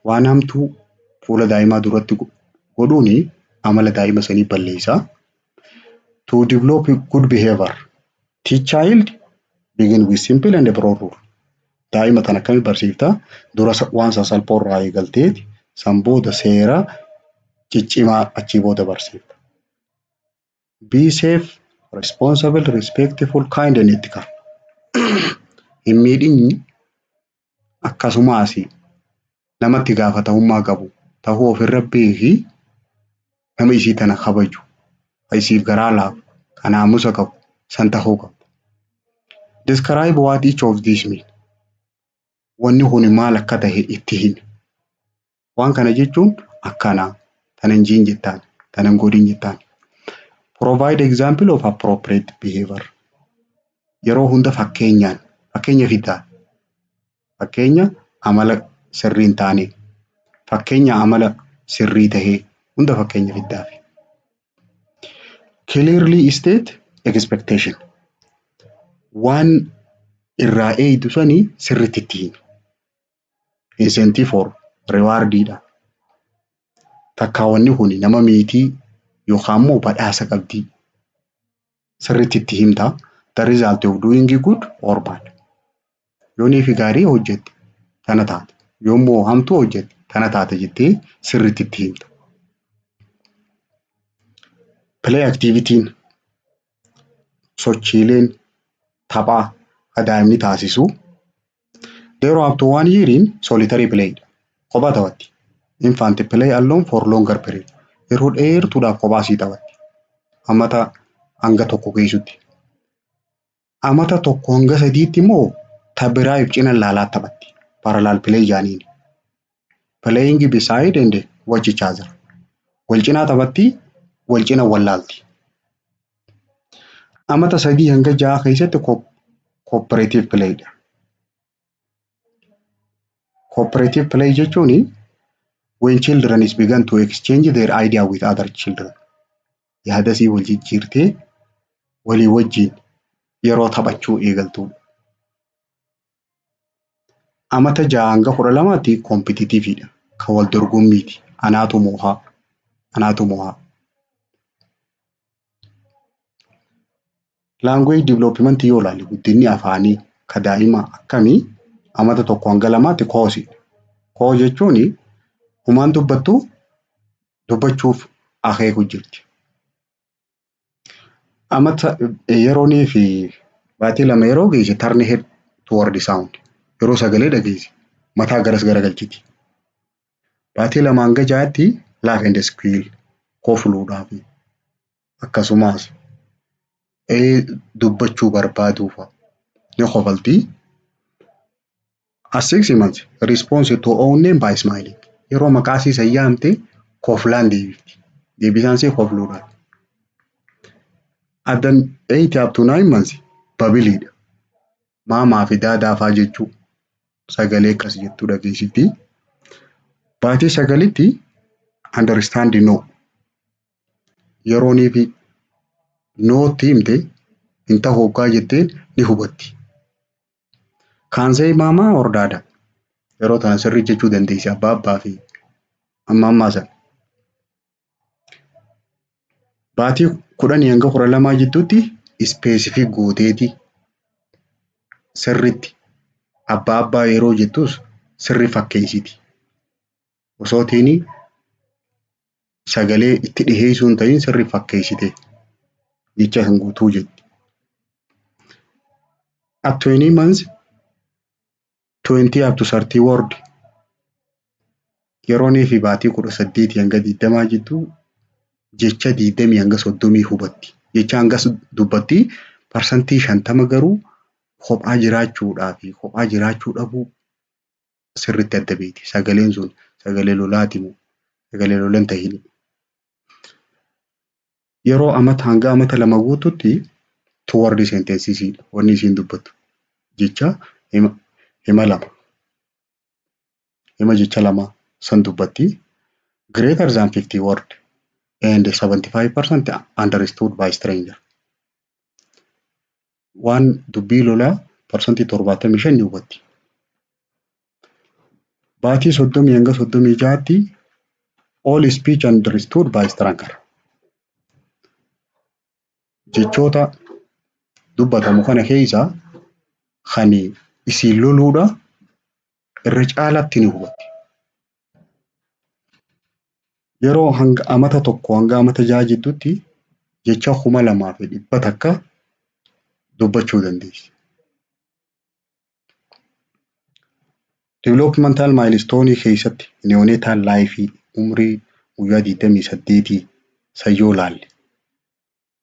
Waan hamtuu fuula daa'imaa duratti go- godhuun amala daa'ima sanii balleessa. To develop good behavior, teach child begin with simple and broad rule. daa'ima tan akkami barsiifta dura waan sasalphoo irraa eegalteeti san booda seera ciccimaa achii booda barsiifta. Be safe, responsible, respectful, kind and ethical. Hin miidhinyi akkasumaasi nama itti gaafatamummaa qabu tahuu of irra beeki, nama isii tana kabaju, ka isiif garaa laafu, ka naamusa qabu san tahuu qabda. Describe what each of these mean. Wanni kuni maal akka tahe itti himi. Waan kana jechuun akkana, tana hin jiin jettaan, tana hin godhin jettaan. Provide example of appropriate behavior. Yeroo hunda fakkeenyaan, fakkeenya fiddaa. Fakkeenya amala sirrii hin taane. Fakkeenya amala sirrii tahe hunda fakkeenya fiddaafi. Clearly state expectation. Waan irraa eeydu sani sirritti itti himi. Incentive for reward dha. Takkaa wanni kun nama miitii yookaan immoo badhaasa qabdii. sirriitti itti himta. The result of doing good or bad. Yoonii fi gaarii hojjette tana taata. Yoommoo hamtuu hojjette tana taata jettee sirriitti itti himta. Play activity'n sochiileen taphaa ka daa'imni taasisu There up to one year in solitary play. Kophaa taphatti. Infant play alone for longer period. Yeroo dheertuudhaaf kophaa sii taphatti. Amata hanga tokko geessutti. Amata tokko hanga sadiitti immoo tabiraayif cina laalaa taphatti. Parallel play jaaniin. Playing beside and watch each other. Wal cinaa taphatti, wal cina wallaalti. Amata sadii hanga ja'a keessatti cooperative play dha. Cooperative play jechuun when children is began to exchange their idea with other children. Yaada isii wal jijjiirtee walii wajjin yeroo taphachuu eegaltuudha. Amata ja'a hanga kudha lamaatti kompititiiviidha. Kan wal dorgommiiti. Anaatu moohaa. Anaatu moohaa. Laanguweej diviloopimantii yoo ilaalle guddinni afaanii ka daa'imaa akkamii amata tokko hanga lamaatti koosiidha. Koo jechuun humaan dubbattu dubbachuuf akeeku jirti. Amata yeroonii fi baatii lama yeroo geesse turn head toward sound yeroo sagalee dhageesse mataa garas garagalchiti. Baatii lama hanga ja'aatti laugh and squeal kofluudhaaf akkasumas ee dubbachuu barbaaduu fa'a ni kofalti. Assignment response to own name by smiling. Yeroo maqaa isii san yaamte koflaan deebifti. Deebisaan isii kofluudha. At the eight up to nine months babiliidha. Maamaa fi daadaa faa jechuu sagalee akkas jettuu dhageessifti. Baatii sagalitti understand no. Yeroonii fi nootti himte hin tahu hoggaa jetteen ni hubatti. Kaansee maamaa hordaada. Yeroo tana sirrii jechuu dandeessi abbaa abbaa fi amma ammaa sana. Baatii kudhanii hanga kudha lamaa jidduutti ispeesifik gooteeti sirritti abbaa abbaa yeroo jettus sirri fakkeessiti. osoo teeni sagalee itti dhiheessuu hin ta'in sirri fakkeessite jecha san guutuu jetti. At 20 months 20 up to 30 word yeroonii fi baatii kudha saddeetii hanga digdamaa jidduu jecha digdamii hanga soddomii hubatti. Jecha hangas dubbatti parsantii shantama garuu kophaa jiraachuudhaa fi kophaa jiraachuu dhabuu sirritti adda beekti. Sagaleen sun sagalee lolaati moo sagalee lola hin tahini. Yeroo amata hanga amata lama guututti toward sentences wanni isiin dubbattu jecha hima, hima lama hima jecha lama san dubbatti greater than 50 word and 75% understood by stranger. waan dubbii lolaa parsantii torbaatamii shan ni hubatti. Baatii soddomii hanga soddomii ja'aatti all speech understood by stranker. Jechoota dubbatamu kana keessa kan isiin loluudha irra caalaatti ni hubatti. Yeroo hanga amata tokko hanga amata ja'a jidduutti jecha kuma lamaa fi dhibba takka dubbachuu dandeessi. Developmental milestone keessatti neonatal life umrii guyyaa 28 sayyoo laalle.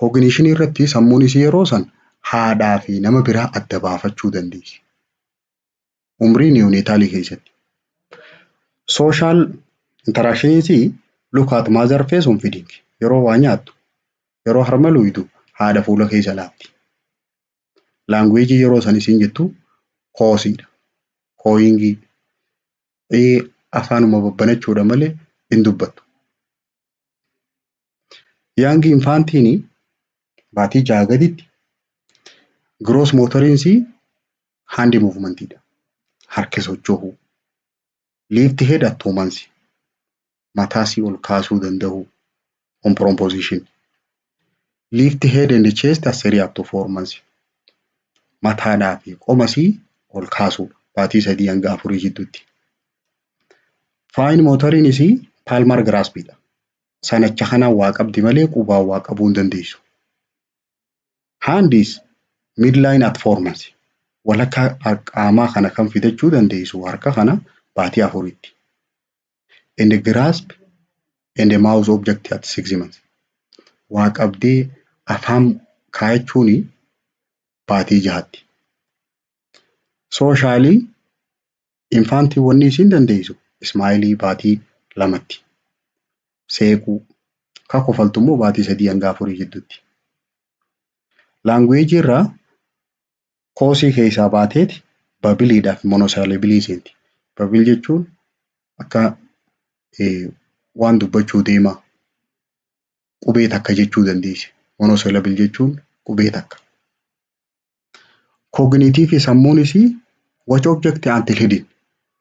Kogniishinii irratti sammuun isii yeroo san haadhaa fi nama biraa adda baafachuu dandeessi. Umrii niyoonetaalii keessatti. Sooshaal intaraakshiniin isii look at mother face on feeding. Yeroo waa nyaattu, yeroo harma luuydu haadha fuula keessa laatti. Laanguweejii yeroo san isiin jettu koosiidha. Kooyingii. Ee afaanuma babbanachuudha malee hin dubbattu. Yaangi Infaantiini baatii jaha gaditti gross motoriin isii hand movement dha. Harki socho'uu. Lift head at two months. Mataa isii ol kaasuu danda'uu. On proposition. Lift head and chest as a react to performance. Mataadhaa fi qomasii ol kaasuu baatii sadii hanga afurii jidduutti. Fine motoriin isii palmar grasp dha. Sanacha kanaan waa qabdi malee qubaan waa qabuu hin dandeessu. Handis midline at performance. Walakkaa qaamaa kana kan fidachuu dandeessu harka kana baatii afuritti. and a grasp and a mouth object at six months. Waa qabdee afaan kaayachuun baatii jahatti. Sooshaali infaantii wanni isiin dandeeysu ismaayilii baatii lamatti. Seequu ka kofaltu immoo baatii sadii hanga afurii jiddutti. Laanguweejii irraa Koosii keessaa baateeti babiliidhaaf monosaalabilii seenti. Babil jechuun akka waan dubbachuu deemaa qubee takka jechuu dandeessi. Monosalabil jechuun qubee takka. Kooginiitiifi sammuun isii watch object until hidden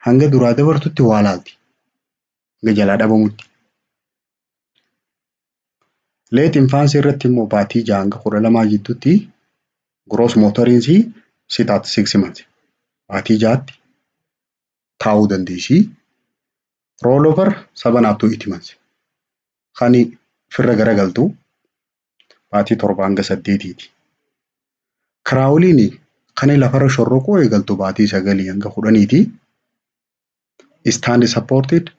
hanga duraa dabartutti waa laalti. Hanga jalaa dhabamutti. Leet infaansii irratti immoo baatii ja'a hanga kudha lamaa jidduutti gross motorinsii sit at six months baatii ja'atti taa'uu dandeessi. Roll over seven up to eight months kan firra garagaltu baatii torba hanga saddeetiiti. Kiraawuliin kan lafarra shorroquu eegaltu baatii sagalii hanga kudhaniiti. stand supported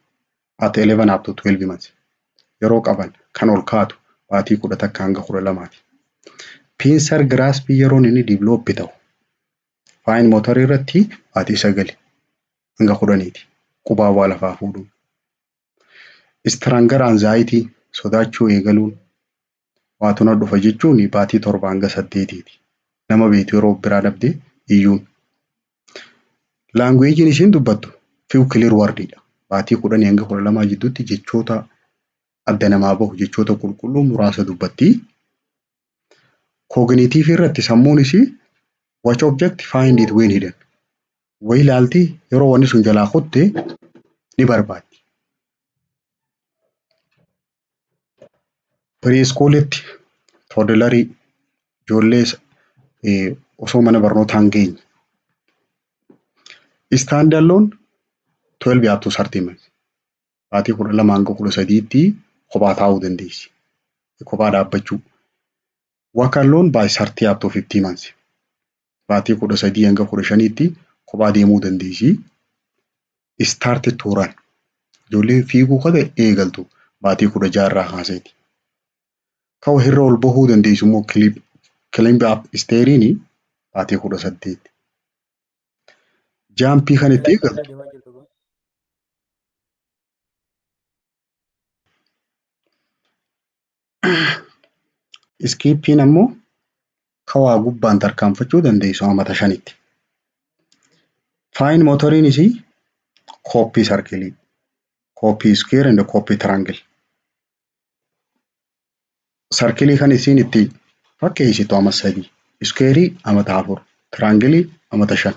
at 11 up to 12 months yeroo qaban kan ol kaatu baatii kudha takka hanga kudha lamaati. Pincer grasp yeroon inni develop ta'u fine motor irratti baatii sagali hanga kudhaniiti qubaa waa lafaa fuudhuu. Istiraangar anzaayitii, sodaachuu eegaluun, waatu na dhufa jechuun baatii torba hanga saddeetiiti. Nama beektu yeroo of biraa dhabdee iyyuun. Laanguweejiin ishiin dubbattu few clear wordidha. Baatii kudhanii hanga kudha lamaa jidduutti jechoota adda namaa bahu jechoota qulqulluu muraasa dubbatti. Kooginiitiivii irratti sammuun ishii watch object find it when hidden. wayii laalti yeroo wanni sun jalaa kutte ni barbaaddi. Piriiskuulitti toodilarii ijoollee osoo mana barnootaa hin geenye. Istaandaloon 12 up to 30 months. Baatii 12 hanga 13tti kophaa taa'uu dandeessi. Kophaa dhaabbachuu. Work alone by 30 up to 50 months. Baatii 13 hanga 15tti kophaa deemuu dandeessi. Start to run. Ijoolleen fiiguu ka ta'e eegaltu baatii 16 irraa kaaseeti. Ka wahirra ol bahuu dandeessu immoo clip climb up steeriini baatii 18. Jaampii kan itti eegaltu Iskiippiin ammoo ka waa gubbaan tarkaanfachuu dandeessu amata shanitti. Faayin mootoriin isii kooppii sarkilii, kooppii iskeer and kooppii tiraangil. Sarkilii kan isiin itti fakkeessitu ama sadii, iskeerii amata afur, tiraangilii amata shan.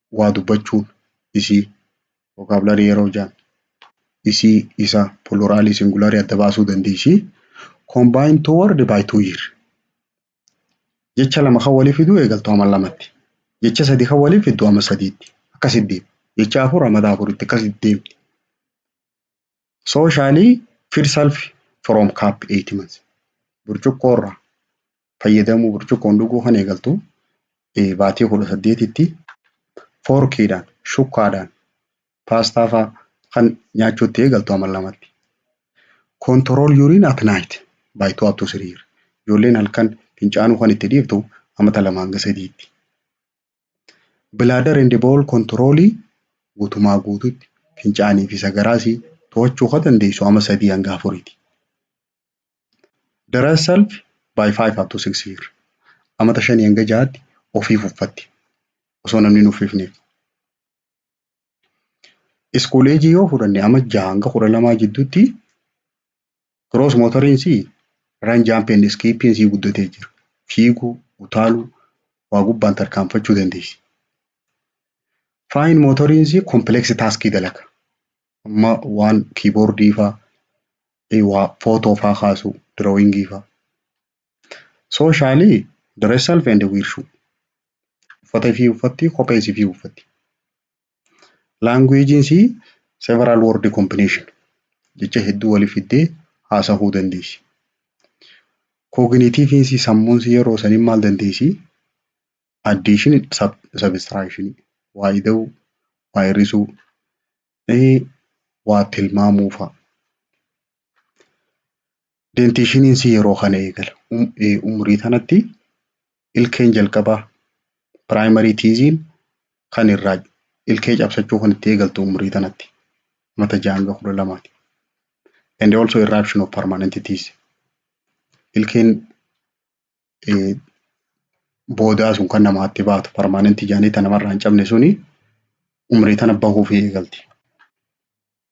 waa dubbachuun isii vocabulary yeroo jaan isii isa pluralii singularii adda baasuu dandeessii combine two word by two year jecha lama kan walii fiduu eegaltu ama lamatti jecha sadi kan walii fiddu ama sadiitti akkasitti deema jecha afur amata afuritti akkasitti deemti. Socially feed self from cup 8 months. Burcuqqoo irraa fayyadamuu burcuqqoon dhuguu kan eegaltu eh, baatii kudha saddeetitti foorkiidhaan, shukkaadhaan, paastaa faa kan nyaachuutti eegaltu amal lamatti. Control urine at night by 2 up to 3 years. Ijoolleen halkan fincaanuu kan itti dhiiftu amata lama hanga sadiitti. Bladder and bowel control guutumaa guututti fincaanii fi sagaraa si to'achuu ka dandeessu ama sadii hanga afuriiti. Dry self by 5 up to 6 year. Amata shanii hanga jahaatti ofii fuffatti. Osoo namni hin uffifneef. School age yoo fudhanne ama jaha hanga kudha lamaa jidduutti Kiroos mootoriin sii run jump and skipping sii guddatee jira. Fiiguu, utaaluu, waa gubbaan tarkaanfachuu dandeessi. Fine mootoriin sii complex task dalaga. Amma waan kiiboordii faa, eh, waa footoo faa kaasuu, drawing faa. Socially dress self and wear shoe. Uffata ifii uffatti, kophee isifii uffatti. Laanguweejiin sii several word combination jecha hedduu wali fiddee haasahuu dandeessi. Kooginiitiiviin sii sammuun sii yeroo saniin maal dandeessi? Addiishin sabistiraakshini waa ida'uu waa hir'isuu waa tilmaamuu fa'a. Dentiishiniin si yeroo kana eegala. Um, eh, umurii tanatti ilkeen jalqabaa primary tiiziin kan irraa ilkee cabsachuu kan itti eegaltu umurii tanatti mata ja'a hanga kudha lamaati. And also eruption of permanent teeth. Ilkeen eh, boodaa sun kan namaatti baatu permanent jaanii tan namarraa hin cabne suni umurii tana bahuuf eegalti.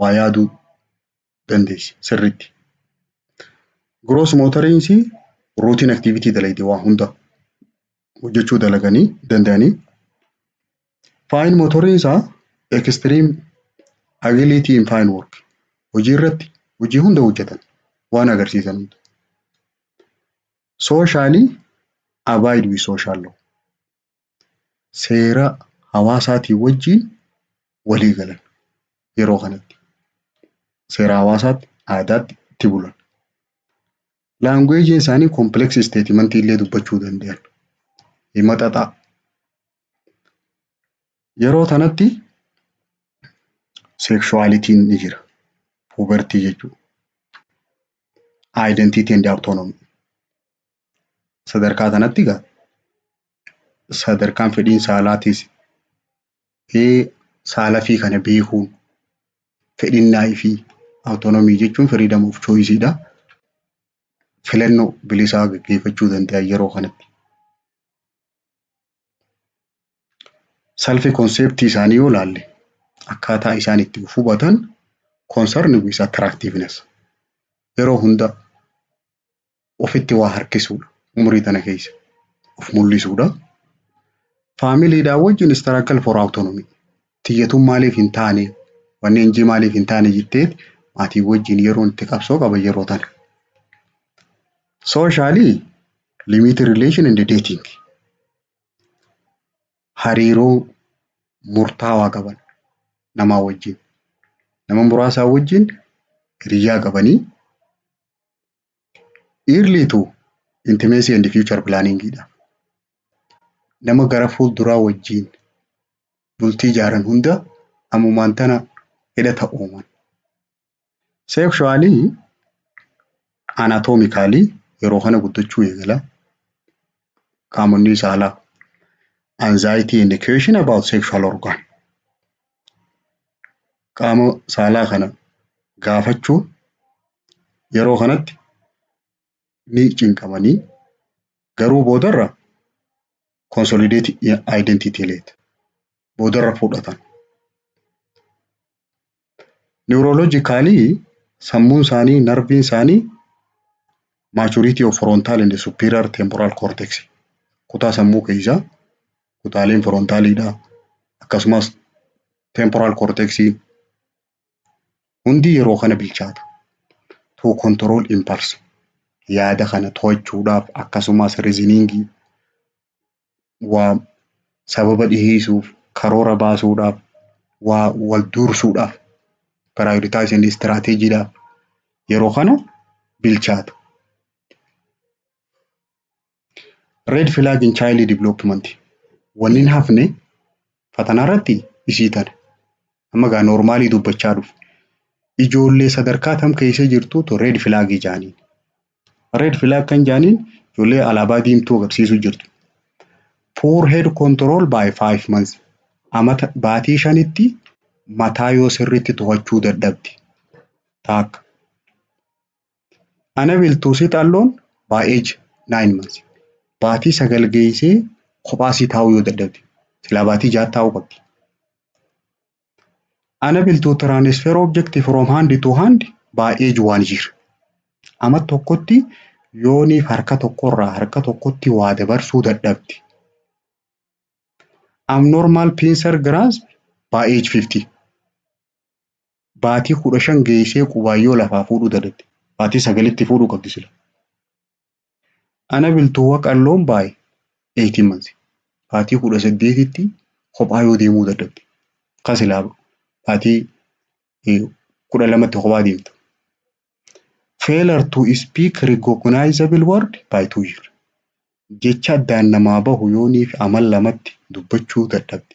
waa yaaduu dandeessi sirriitti. Gross motoriins routine activity dalayti waa hunda hojjechuu dalaganii danda'anii. Fine motoriins extreme ability in fine work hojii irratti hojii hunda hojjetan waan agarsiisan hunda. Socially abide with social law seera hawaasaatii wajjin walii galan yeroo kanatti. Seera hawaasaatti, aadaatti itti bulan. Laanguweejiin isaanii kompleksii isteetimantii illee dubbachuu danda'an. Hima xaxaa. Yeroo kanatti sekshuwaalitiin ni jira. Puubertii jechuudha. Identity and autonomy. sadarkaa kanatti egaa sadarkaan fedhiin saalaatis saala fi kana beekuun fedhinnaa fi awutoonomii jechuun freedom of choice dha. Filannoo bilisaa gaggeeffachuu danda'a yeroo kanatti. Salfi konseptii isaanii yoo laalle akkaataa isaan itti of hubatan concern with attractiveness yeroo hunda ofitti waa harkisuudha. Umurii tana keessa of mul'isuudha. Faamiliidhaa wajjin istiraakal for awutonomii. Tiyyatuun maaliif hin taane wanni injii maaliif hin taane jettee maatii wajjin yeroon itti qabsoo qaba yeroo tana. Sooshaali limiitii rileeshin indi deeting. Hariiroo murtaawaa qaban namaa wajjin. Nama muraasaa wajjin hiriyyaa qabanii Early to intimacy and future planning dha. Nama gara fuulduraa wajjin bultii ijaaran hunda ammumaan tana hidhata uuman. Sexually anatomically yeroo kana guddachuu eegala. Qaamonni saalaa anxiety and question about sexual organ. qaama saalaa kana gaafachuu yeroo kanatti ni cinqamanii garuu boodarra consolidated identity leet boodarra fudhatan. Neurologically sammuun isaanii narviin isaanii maturity of frontal and superior temporal cortex kutaa sammuu keessaa kutaaleen firoontaaliidhaa akkasumas temporaal korteeksii hundi yeroo kana bilchaatu. To control impulse yaada kana to'achuudhaaf akkasumas riziniingii waa sababa dhiheessuuf karoora baasuudhaaf waa wal duursuudhaaf piraayoditaayisin istiraateejiidhaaf yeroo kana bilchaatu. Red flag in child development. Wanni hin hafne fatanaa irratti isii tana. Amma gaa noormaalii dubbachaa dhufu. Ijoollee sadarkaa tam keessa jirtuutu red flag jaaniin. Red flag kan jaaniin ijoollee alaabaa diimtuu agarsiisu jirtu. Poor head control by five months. Amata baatii shanitti mataa yoo sirriitti to'achuu dadhabde. Taakka. Ana biltuu sit alone by age nine months baatii sagal geeysee kophaa sii taa'uu yoo dadhabde silaa baatii ja'a taa'uu qabdi. Ana biltuu transfer object from hand to hand by age one year ama tokkotti yooniif harka tokkorraa harka tokkotti waa dabarsuu dadhabde. Abnormal pincer grasp by age 50 Baatii kudha shan geeysee qubaan yoo lafaa fuudhuu dadette baatii sagalitti fuudhuu qabdi sila. Ana biltuu waq alone by eighteen months baatii kudha saddeetitti kophaa yoo deemuu dadhabde ka silaa baatii kudha lamatti kophaa deemtu. Failure to speak recognizable word by two year jecha addaan namaa bahu yooniif amal lamatti dubbachuu dadhabde.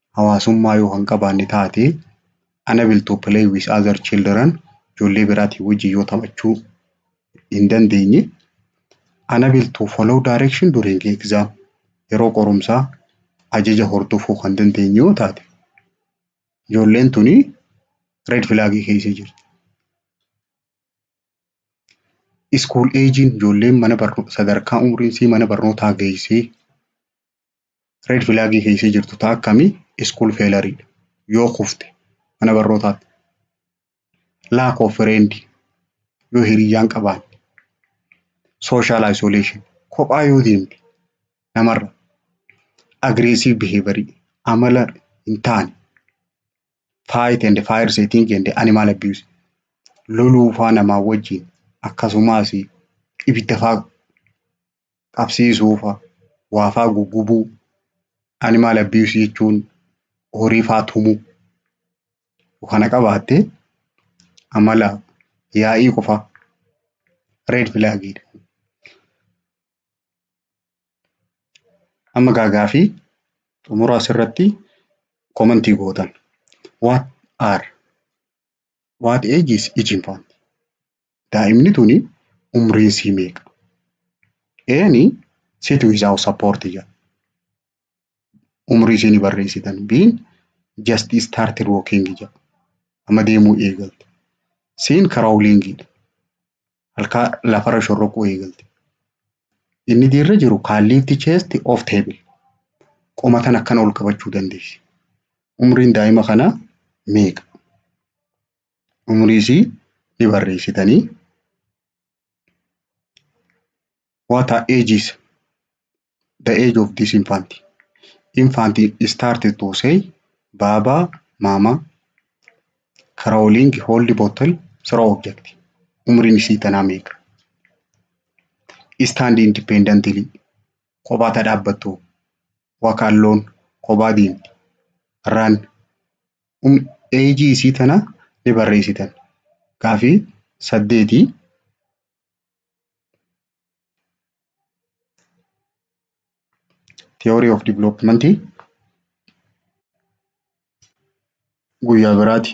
hawaasummaa yoo kan qabaanne taate unable to play with other children ijoollee biraatiin wajjin yoo taphachuu hin dandeenye unable to follow direction during exam yeroo qorumsaa ajaja hordofuu kan dandeenye yoo taate ijoolleen tuni red flag keessa jirti. School age ijoolleen mana barnoo sadarkaa umriin isii mana barnootaa geessee Red flag kan ishee jirtu taa akkami school failure dha. Yoo kufte mana barnootaatti. Lack of friend yoo hiriyyaan qabaanne. Social isolation kophaa yoo deemte namarra. Aggressive behavior amala hin taane. Fight and fire setting and animal abuse. Loluu faa namaa wajjin akkasumas ibidda faa qabsiisuu fa'a, waa fa'a guggubuu, animal abuse jechuun horii fa'a tumuu yoo kana qabaatte amala yaa'ii qofaa red flag dha. Amma egaa gaaffii xumura asirratti comment gootan. What are What age is each infant? Daa'imni tuni umriin isii meeqa? Eeni sit without support jedha. Umrii isiin barreessitan. Biin just started walking jedha. Amma deemuu eegalte. Siin crawling dha. halkaa lafarra shorroquu eegalte. Inni diirra jiru can lift chest off table. Qoma tan akkana ol qabachuu dandeessi. Umriin daa'ima kanaa meeqa? Umrii isii ni barreessitanii. What are ages? the age of this infant infant started to say baaba maama crawling hold bottle throw object umriin isii tanaa meeqa stand independently kophaa ta dhaabbattu walk alone kophaa deemti run um, age isii tana ni barreessitan gaafii saddeetii Theory of Development guyyaa biraati.